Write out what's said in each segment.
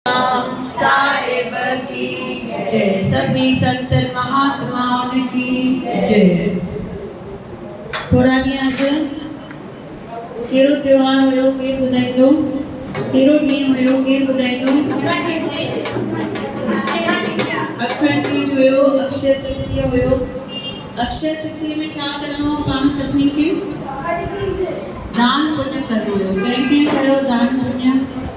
امام صاحب ڪي جئ سڀني سنتن مهاتمائن ڪي جئ. ٿورا ڏينهن اڳ ڪهڙو تهوار هيو ڪير ٻڌائيندو ڪهڙو ڏينهن هيو ڪير ٻڌائيندو اکڻ تيج هيو اڪشي ترتيه هيو اڪشي ترتيه ۾ ڇا ڪرڻو هو پاڻ سڀني کي دان پڃ ڪرڻو هيو ڪنهن ڪنهن ڪيو دان پڃ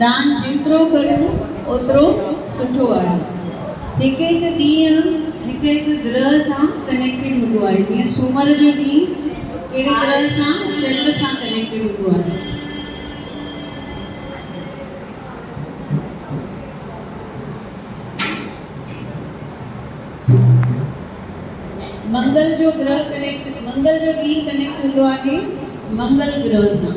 دان جيترو ڪريون اوترو سٺو آهي هڪ هڪ ڏينهن هڪ هڪ گرهه سان ڪنيڪٽيڊ هوندو آهي جيئن سومر جو ڏينهن ڪهڙي گرهه سان چنڊ سان ڪنيڪٽيڊ هوندو آهي منگل جو گرهه ڪنيڪٽ منگل جو ڏينهن ڪنيڪٽ هوندو آهي منگل گرهه سان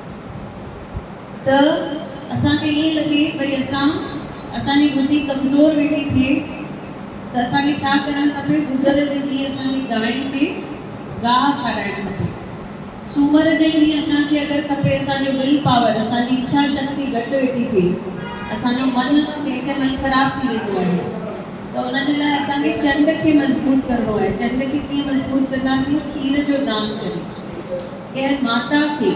ته اسان کي ائين لڳي ڀئي اسان اسان جي ٻڌي ڪمزور ويٺي ٿئي ته اسان کي ڇا ڪرڻ کپي ٻڌر جي ڏينهن اسان کي گانئين کي گاهه کارائڻ کپي سومر جي ڏينهن اسان کي اگر کپي اسان جو ول پاور اسان جي اڇا شڪتي گهٽ ويٺي ٿئي اسان جو من ڪنهن ڪنهن مهل خراب ٿي ويندو آهي ته ان جي لاء اسان کي چنڊ کي مضبوط ڪرڻو آهي چنڊ کي ڪيئن مضبوط ڪنداسين کير جو دان ڪري ڪنهن ماتا کي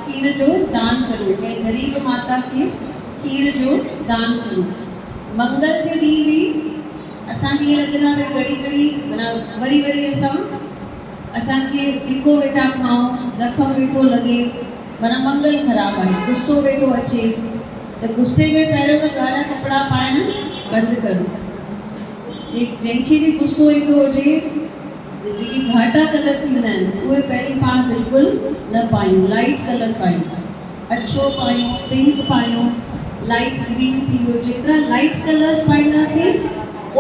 کير جو دان ڪريو، ڪنهن غريب ماتا کي کير جو دان ڪريو. منگل جي ڏينهن به اسان کي ائين لڳي ٿا ڀئي گهڙي گهڙي معنيٰ وري وري اسان اسان کي ڌڪو ويٺا کائون، زخم ويٺو لڳي، معنيٰ منگل خراب آهي، غصو ويٺو اچي ته غصي ۾ پهريون ته ڳاڙها ڪپڙا پائڻ بند ڪريو. جنهن کي به غصو ايندو هجي. جيڪي گهاٽا ڪلر ٿيندا آهن اهي پهرين پاڻ بلڪل نه پايون لائيٽ ڪلر پايون اڇو پايون پنڪ پايون لائيٽ گرين ٿي ويو جيترا لائيٽ ڪلرس پائينداسين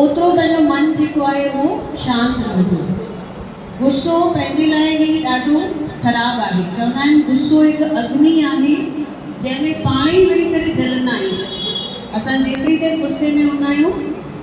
اوترو پنهنجو من جيڪو آهي اهو شانت رهندو غصو پنهنجي لاء هي ڏاڍو خراب آهي چوندا آهن غصو هڪ اگني آهي جنهن ۾ پاڻ ئي ويهي ڪري جلندا آهيون اسان جيتري دير غصي ۾ هوندا آهيون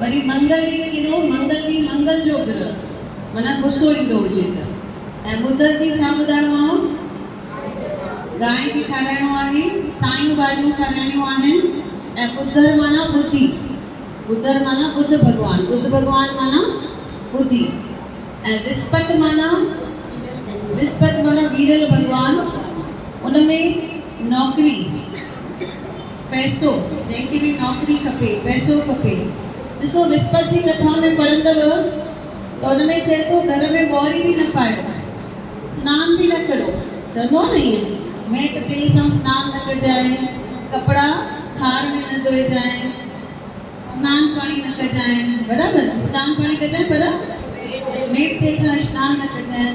وري منگل ڏينهن ڪيرو منگل ڏينهن منگل جو گرهه معنيٰ غصو ايندو هجي ته ۽ ٻڌ ڏينهن ڇا ٻڌايومانو گانء کي کارائڻو آهي سايون ڀاڄيون کارائڻيون آهن ۽ ٻڌر معنيٰ ٻڌي ٻڌر معنيٰ ٻڌ ڀڳوان ٻڌ ڀڳوان معنيٰ ٻڌي ۽ وسپت معنيٰ وسپت معنيٰ ويرل ڀڳوان ان ۾ نوڪري پئسو، جنهن کي به نوڪري کپي، پئسو کپي. ڏسو وسپت جي ڪٿا ۾ پڙهندؤ ته ان ۾ چئي ٿو گهر ۾ ٻوهري به نه پايو، سنان به نه ڪرو، چوندو آهي نه ائين، ميٽ تيل سان سنان نه ڪجانء، ڪپڙا کار ۾ نه ڌوئجانء، سنان پاڻي نه ڪجانء، برابر، سنان پاڻي ڪجانء پر ميٽ تيل سان سنان نه ڪجانء.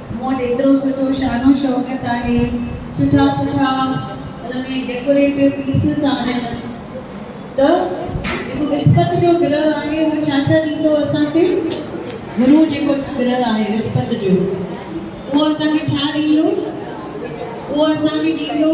مون وٽ ايترو سٺو شان و شوڪت آهي، سٺا سٺا ان ۾ ڊيڪوريٽو پيسز آهن ته جيڪو وسپت جو گرهه آهي اهو ڇا ڇا ڏيندو اسان کي؟ گرو جيڪو گرهه آهي وسپت جو اهو اسان کي ڇا ڏيندو؟ اهو اسان کي ڏيندو.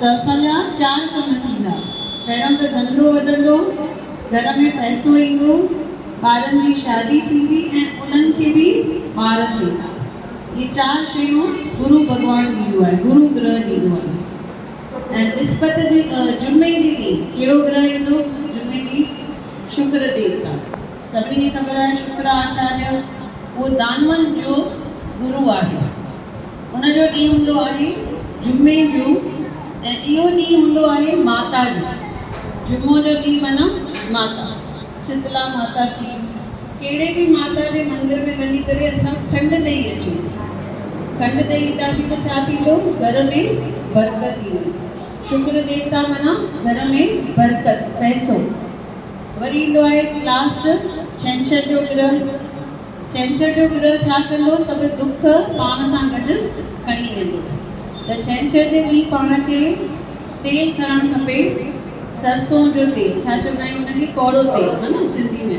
ته اسان جا چار ڪم ٿيندا، پهريون ته ڌنڌو وڌندو، گهر ۾ پئسو ايندو، ٻارن جي شادي ٿيندي ۽ انهن کي به ٻار ٿيندا. اهي چار شيون گرو ڀڳوان ڏيندو آهي، گرو گرهه ڏيندو آهي ۽ وسپت جي جمعي جي ڏينهن ڪهڙو گرهه ايندو جمعي ڏينهن شڪر ديوتا. سڀني کي خبر آهي شڪرا آچاريه اهو دانون جو گرو آهي. ان جو ڏينهن هوندو آهي جمعي جو ۽ اهو ڏينهن هوندو آهي ماتا جو. جمعو جو ڏينهن معنيٰ ماتا. سيتلا ماتا ٿي، ڪهڙي به ماتا جي مندر ۾ وڃي ڪري اسان کنڊ ڏئي اچون. کنڊ ڏئي اينداسين ته ڇا ٿيندو گهر ۾ برڪت ايندي. شڪر ديوتا معنيٰ گهر ۾ برڪت، پئسو. وري ايندو آهي لاسٽ ڇنڇر جو گرهه، ڇنڇر جو گرهه ڇا ڪندو سڀ دک پاڻ سان گڏ کڻي ويندو ته ڇنڇر جي ڏينهن پاڻ کي تيل کڻڻ کپي سرسون جو تيل ڇا چوندا آهيون ان کي ڪوڙو تيل ها نه سنڌي ۾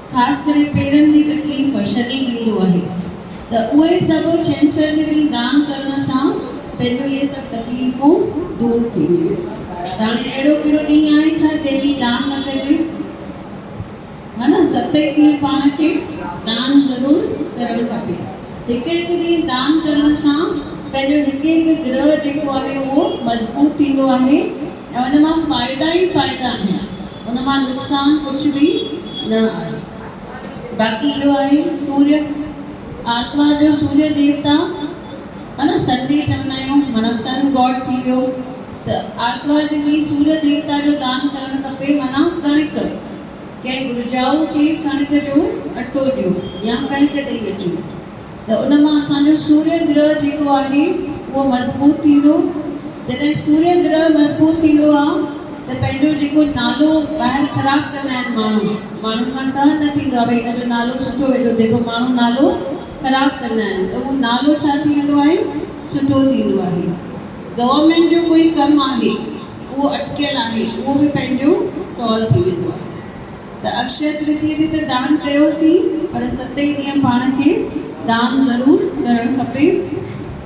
خاص ڪري پيرن جي تڪليف شديد ڏيندو آهي ته اهي سڀ ڇنڇر جي ڏينهن دان ڪرڻ سان پنهنجون اهي سڀ تڪليفون دور ٿينديون ته هاڻي اهڙو ڪهڙو ڏينهن آهي ڇا جنهن ڏينهن دان نه ڪجي ها نه ست ئي ڏينهن پاڻ کي دان ضرور ڪرڻ کپي هڪ هڪ ڏينهن دان ڪرڻ سان پنهنجو هڪ هڪ گرهه جيڪو آهي اهو مضبوط ٿيندو آهي ۽ ان مان فائدا ئي فائدا آهن ان مان نقصان ڪجهه به نه آهي باقي اهو آهي سوري آرتوار جو سوري ديوتا ها نه سن ڊي چوندا آهيون مانا سن گاڊ ٿي ويو ته آرتوار جي ڏينهن سوري ديوتا جو دان ڪرڻ کپي مانا ڪڻڪ ڪنهن گهرجائو کي ڪڻڪ جو اٽو ڏيو يا ڪڻڪ ڏئي اچو. ته ان مان اسان جو سوريه گرهه جيڪو آهي اهو مضبوط ٿيندو، جڏهن سوريه گرهه مضبوط ٿيندو آ ته پنهنجو جيڪو نالو ٻاهر خراب ڪندا آهن ماڻهو، ماڻهن کان سهن نه ٿيندو آ ڀئي هن جو نالو سٺو هيڏو ديگهو ماڻهو نالو خراب ڪندا آهن ته اهو نالو ڇا ٿي ويندو آهي سٺو ٿيندو آهي. گورنمينٽ جو ڪوئي ڪم آهي اهو اٽڪيل آهي اهو به پنهنجو سالو ٿي ويندو آهي. ته اڪشيه ترتيه تي ته دان ڪيوسين پر ستين ڏينهن پاڻ کي دان ضرور ڪرڻ کپي.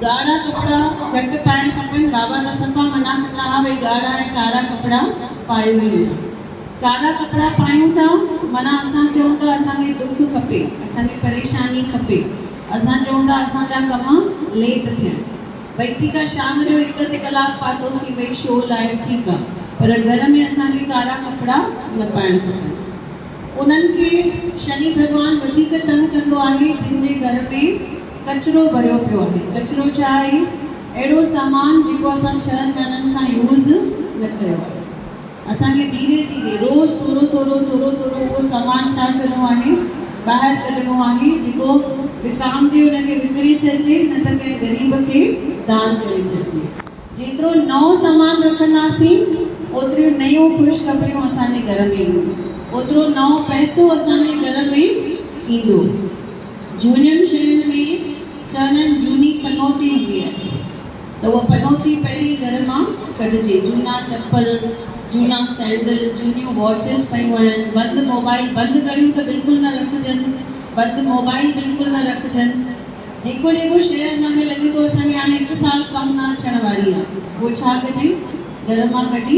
ڳاڙها ڪپڙا گهٽ پائڻ کپن، بابا ته صفا منع ڪندا ها ڀئي ڳاڙها ۽ ڪارا ڪپڙا پايو ئي نه. ڪارا ڪپڙا پايون ٿا معنيٰ اسان چئون ٿا اسان کي دک کپي، اسان کي پريشاني کپي، اسان چئون ٿا اسان جا ڪم ليٽ ٿين. ڀئي ٺيڪ آ شام جو هڪ اڌ ڪلاڪ پاتوسين ڀئي شو لاء ٺيڪ آ پر گهر ۾ اسان کي ڪارا ڪپڙا نه پائڻ کپن انهن کي شني ڀڳوان وڌيڪ تنگ ڪندو آهي جن جي گهر ۾ ڪچرو ڀريو پيو آهي ڪچرو ڇا آهي اهڙو سامان جيڪو اسان ڇهن مهينن کان يوز نه ڪيو آهي. اسان کي ڌيري ڌيري روز ٿورو ٿورو ٿورو ٿورو اهو سامان ڇا ڪرڻو آهي ٻاهر ڪڍڻو آهي جيڪو وڪامجي ان کي وڪڻي ڇڏجي نه ته ڪنهن غريب کي دان ڪري ڇڏجي جيترو نئون سامان رکنداسين اوتريون نيون خوش خبريون اسان جي گهر ۾ اينديون اوترو نئون پئسو اسان جي گهر ۾ ايندو جهونين شين ۾ چونن جهوني پنوتي هوندي آهي. ته اها پنوتي پهرين گهر مان ڪڍجي، جهونا چپل، جهونا سينڊل، جهونيون واچز پيون آهن، بند موبائيل، بند گهڙيون ته بلڪل نه رکجن، بند موبائيل بلڪل نه رکجن، جيڪو جيڪو شيء اسان کي لڳي ٿو اسان جي هاڻي هڪ سال ڪم نه اچڻ واري آهي اهو ڇا ڪجي گهر مان ڪڍي،